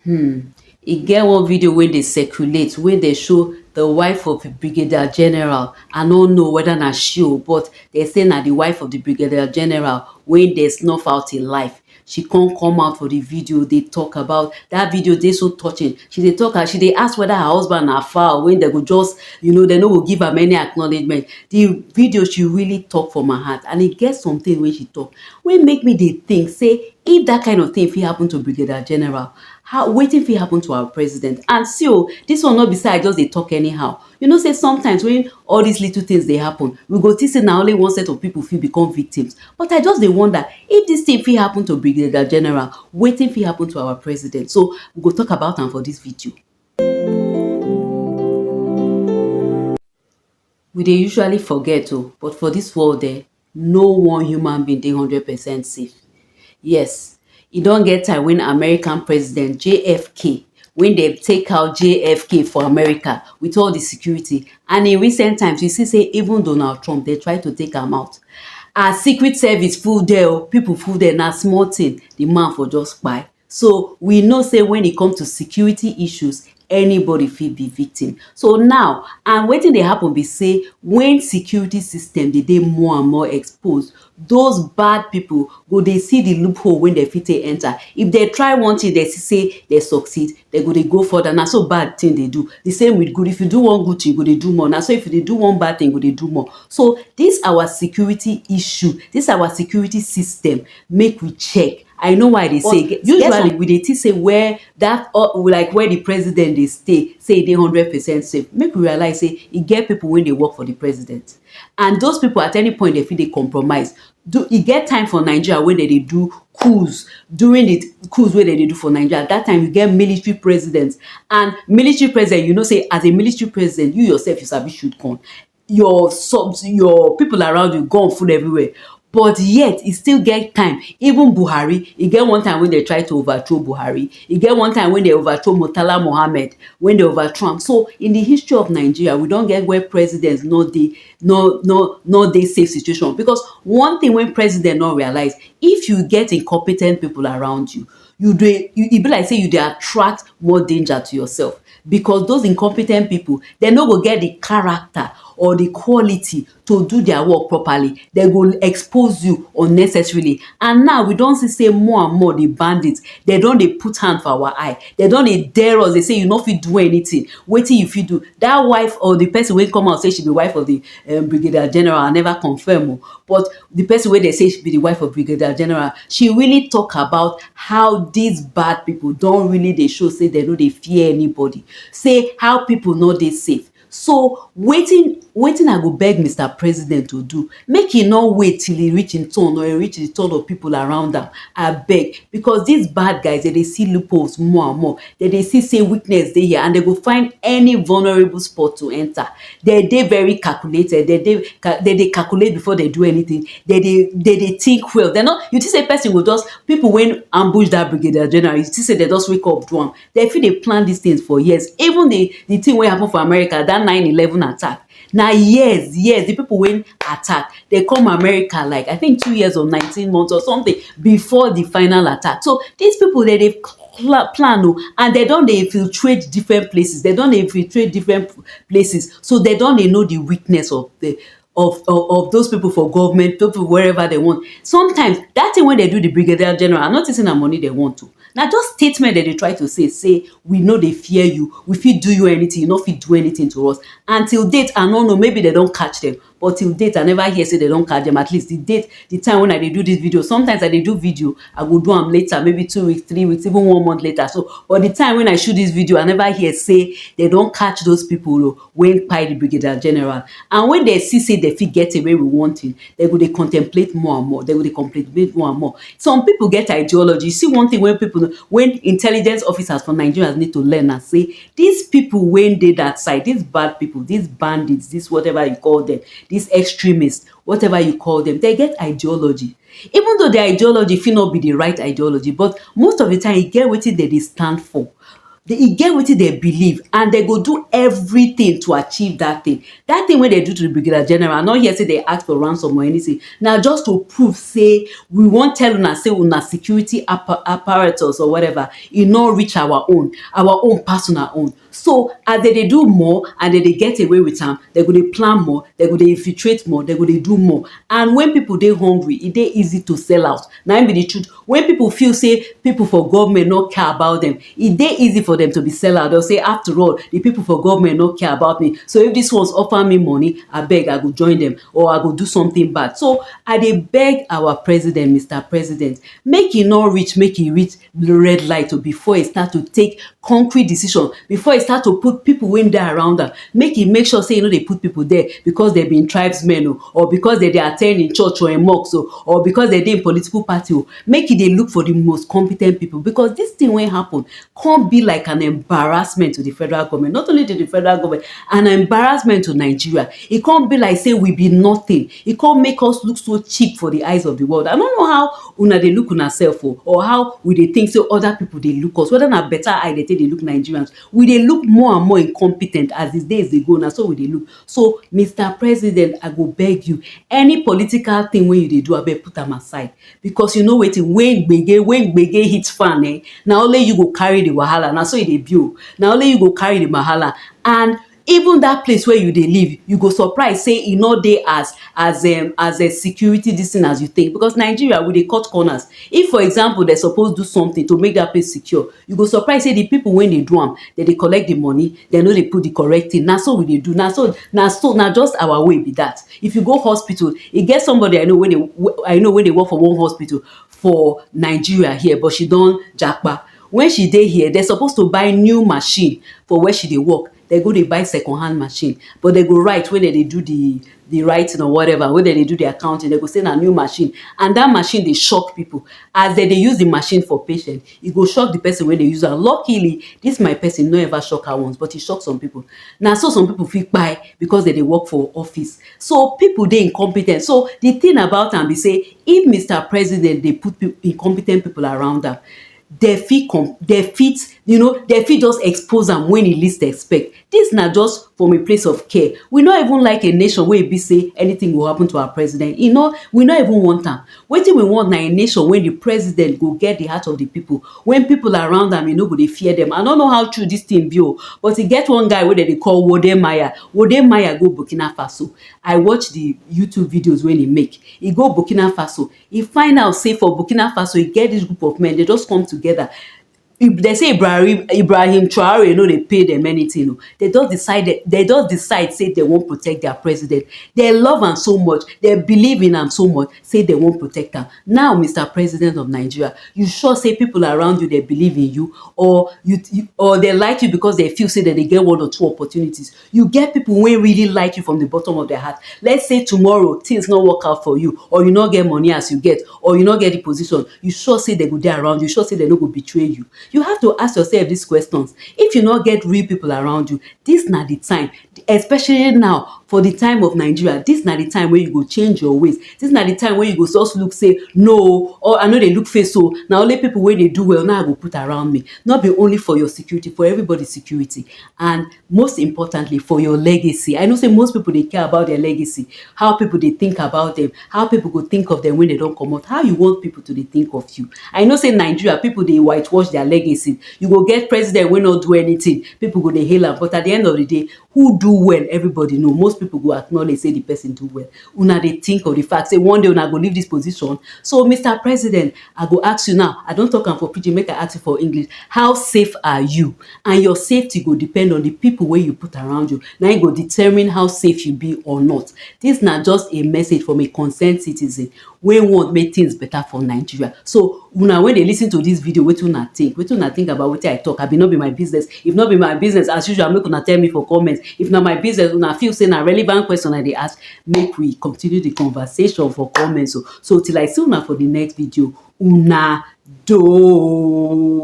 um e get one video wey dey circulate wey dey show the wife of the brigadier general, I no know weda na she o but dem say na the wife of the brigadier general wey dem snuff out hin life, she come come out for the video dey talk about, that video dey so touching, she dey talk as she dey ask weda her husband na fowl wey dem go just you know dem no go give am any acknowledgement, the video she really talk for my heart and e get something wey she talk, wey make me dey think say if dat kind of thing fit happen to brigadier general how wetin fit happen to our president and see o dis one no be say I just dey talk anyhow you know say sometimes when all dis little things dey happen we go think say na only one set of people fit become victims but I just dey wonder if dis thing fit happen to brigadier general wetin fit happen to our president so we go talk about am for dis video. We dey usually forget o but for dis world um no one human being dey hundred percent safe. Yes e don get time wen American president JFK wen dem take out JFK for America wit all di security and in recent times you see sey even Donald Trump dem try to take am out and secret service full there o pipu full there na small tin di man for just kpai. So, we know say when e come to security issues, anybody fit be victim. So now, and wetin dey happen be say when security system dey dey more and more exposed, those bad people go dey see the loophole wey dem fit take enter. If dem try one thing, dem see say dem succeed, dem go dey go further. Na so bad thing dey do. The same with good. If you do one good thing, you go dey do more. Na so if you dey do one bad thing, you go dey do more. So, this our security issue, this our security system, make we check I know why I dey say get some usually we dey think say where that or like where the president dey stay say e dey hundred percent safe make we realize say e get people wey dey work for the president and those people at any point dem fit dey compromise do e get time for Nigeria wey dem dey do cools during the cools wey dem dey do for Nigeria that time e get military president and military president you know say as a military president you yourself you sabi shoot gun your subs your people around you gun full everywhere but yet e still get time even Buhari e get one time wey dem try to over throw Buhari e get one time wey dem over throw Murtala Muhammed wey dem over throw am so in the history of Nigeria we don get where president no dey no no no dey safe situation because one thing wey president no realize if you get incompetent people around you you dey e be like sey you dey attract more danger to yourself because those incompe ten t people dem no go get the character or the quality to do their work properly dem go expose you unnecessarily and now we don see sey more and more the bandit dem don dey put hand for our eye dem don dey dare us dey say you no fit do anything wetin you fit do that wife or the person wey come out say she be wife of the brigadier general I never confirm o but the person wey dey say be the wife of brigadier general she really talk about how these bad people don really dey show say dem no dey fear anybody say how people no dey safe so wetin wetin i go beg Mister president to do make he no wait till he reach him turn or he reach the turn of people around am abeg because these bad guys dem dey see loopholes more and more dem dey see say weakness dey here and dem go find any vulnerable spot to enter de dey very calculated, de dey ca de dey calculate before de do anytin, de dey de dey tink well, de nor, you tink sey person go just, pipu wey ambush dat brigadier general, you tink sey de just wake up do am, de fit dey plan dis tins for years, even di di tin wey happen for America, dat nine eleven attack, na years, years, di pipu wey attack, de come America like I tink two years or nineteen months or sometin before di final attack. So, dis pipu de dey plan plan o and de don dey infiltrate differen places, de don dey infiltrate differen. places so dem don dey know di weakness of de of of those pipo for govment those pipo wherever dem want sometimes dat tin wey dem do di brigadier general I no tink say na money dem want o na just statement dem dey try to say say we no dey fear you we fit do you anytin you no fit do anytin to us and till date I no know maybe dem don catch dem but till date i never hear say dem don catch dem at least the date the time when i dey do this video sometimes i dey do video i go do am later maybe two weeks three weeks even one month later so but the time when i shoot this video i never hear say dem don catch those people o wey kpai the brigadier general and when dem see say dem fit get away with one thing dem go dey contemplate more and more dem go dey contemplate more and more some people get ideology see one thing wey people wey intelligent officers for nigerians need to learn na say Dis pipo wey dey dat side, dis bad pipo, dis bandits, dis whatever you call dem, dis extremists, whatever you call dem, dem get ideology. Even though dia ideology fit no be di right ideology, but most of di time, e get wetin dem dey stand for. De e get wetin dem believe and dem go do everytin to achieve dat tin. Dat tin wey dem do to di Brigadier General, I no hear sey de ask for ransom or anytin. Na just to prove sey we wan tell una sey una security appa apparatus or whatever e no reach our own, our own pass una own so as dem dey do more and dem dey get away with am dem go dey plan more, dem go dey infiltrate more, dem go dey do more and when people dey hungry e dey easy to sell out na im be the truth when people feel sey people for government no care about dem e dey easy for dem to be sell out dem go sey after all the people for government no care about me so if this ones offer me money abeg i go join dem or i go do something bad so i dey beg our president Mister president make e no reach make e reach red light o before e start to take concrete decision before e start to put people wey dey around am make e make sure sey e no dey put people there because dem be tribes men o or because dem dey at ten d him church or him mosque o or because dem dey him political party o make e dey look for the most compe ten t people because this thing wey happen come be like an embarrassment to the federal government not only to the federal government an embarrassment to Nigeria e come be like sey we be nothing E come make us look so cheap for the eyes of the world. I no know how una dey look una self o or how we dey think say other people dey look us, whether na better eye dey take dey look Nigerians. We dey look more and more incompetent as the days dey go, na so we dey look. So, Mister President, I go beg you, any political thing wey you dey do, abeg put am aside because you know wetin, when gbege, when gbege hit fan um, na only you go carry the wahala, na so e dey be o. Na only you go carry the wahala and Even dat place wey you dey live, you go surprise sey e no dey as as um as um security dis thing as you think because Nigeria we dey cut corners. If for example dem suppose do something to make dat place secure, you go surprise sey the people wey dey do am, dem dey collect the money, dem no dey put the correct thing. Na so we dey do, na so na so na just our way be dat. If you go hospital, e get somebody I know wey dey I know wey dey work for one hospital for Nigeria here but she don japa. When she dey here, dem suppose to buy new machine for where she dey work, dem go dey buy second hand machine but dem go write when dem dey do the the writing or whatever, when dem dey do the accounting, dem go say na new machine and that machine dey shock people. As dem dey use the machine for patient, e go shock the person wey dey use am. Luckily, this my person no ever shock her once but e shock some people. Na so some people fit kpai because dem dey work for office. So, people dey incompe ten t. So, the thing about am be sey, If Mister President dey put pip incompetent people around am, dem fit com dem fit you know dem fit just expose am when e least expect. Dis na just from a place of care. We no even like a nation wey e be sey anything go happen to our president. E no we no even want am. Wetin we want na a nation wey the president go get the heart of the people. When people around am, e no go dey fear dem. I no know how true dis thing be o, but e get one guy wey dem dey call Wode Maya. Wode Maya go Burkina Faso. I watch the YouTube videos wey e make. e go Burkina Faso, e find out sey for Burkina Faso e get dis group of men, de just come together. If de sey Ibrahim Ibrahim Traore no dey pay dem anything oh, de just decide de just decide sey de wan protect their president. De love am so much, de believe in am so much sey de wan protect am. Now Mister President of Nigeria, you sure sey people around you de believe in you? Or you or de like you because de feel sey de dey get one or two opportunities? You get pipu wey really like you from di bottom of dia heart, let's say tomorrow tins no work out for you or you no get money as you get or you no get di position, you sure sey den go dey around you, you sure sey den no go betray you? You have to ask yourself dis questions, if you no get real pipu around you, dis na di time, especially now for di time of Nigeria, dis na di time wey you go change your ways, dis na di time wey you go just look sey no o, or I no dey look face o, na only pipu wey dey do well nai I go put around me, nor be only for your security, for everybody security and. Most importantly, for your legacy. I know sey most pipu dey care about dia legacy, how pipu dey think about dem, how pipu go think of dem wen de don comot. How you want pipu to dey think of you? I know sey Nigeria, pipu dey white wash dia legacy. You go get president wey no do anything, pipu go dey hail am, but at the end of the day, who do well, everybody know. Most pipu go acknowledge sey the pesin do well. una dey think of di fact sey one day una go leave dis position so Mister president I go ask you now I don talk am for pidgin make I ask you for English how safe are you and your safety go depend on di people wey you put around you na im go determine how safe you be or not dis na just a message from a concern citizen wey want make things better for Nigeria. So una wey dey listen to this video, wetin una think? Wetin una think about wetin I talk? Abi no be my business? If no be my business, as usual, make una tell me for comment. If na my business, una feel say na relevant question I dey ask, make we continue the conversation for comment o. So till I see una for the next video, una doh.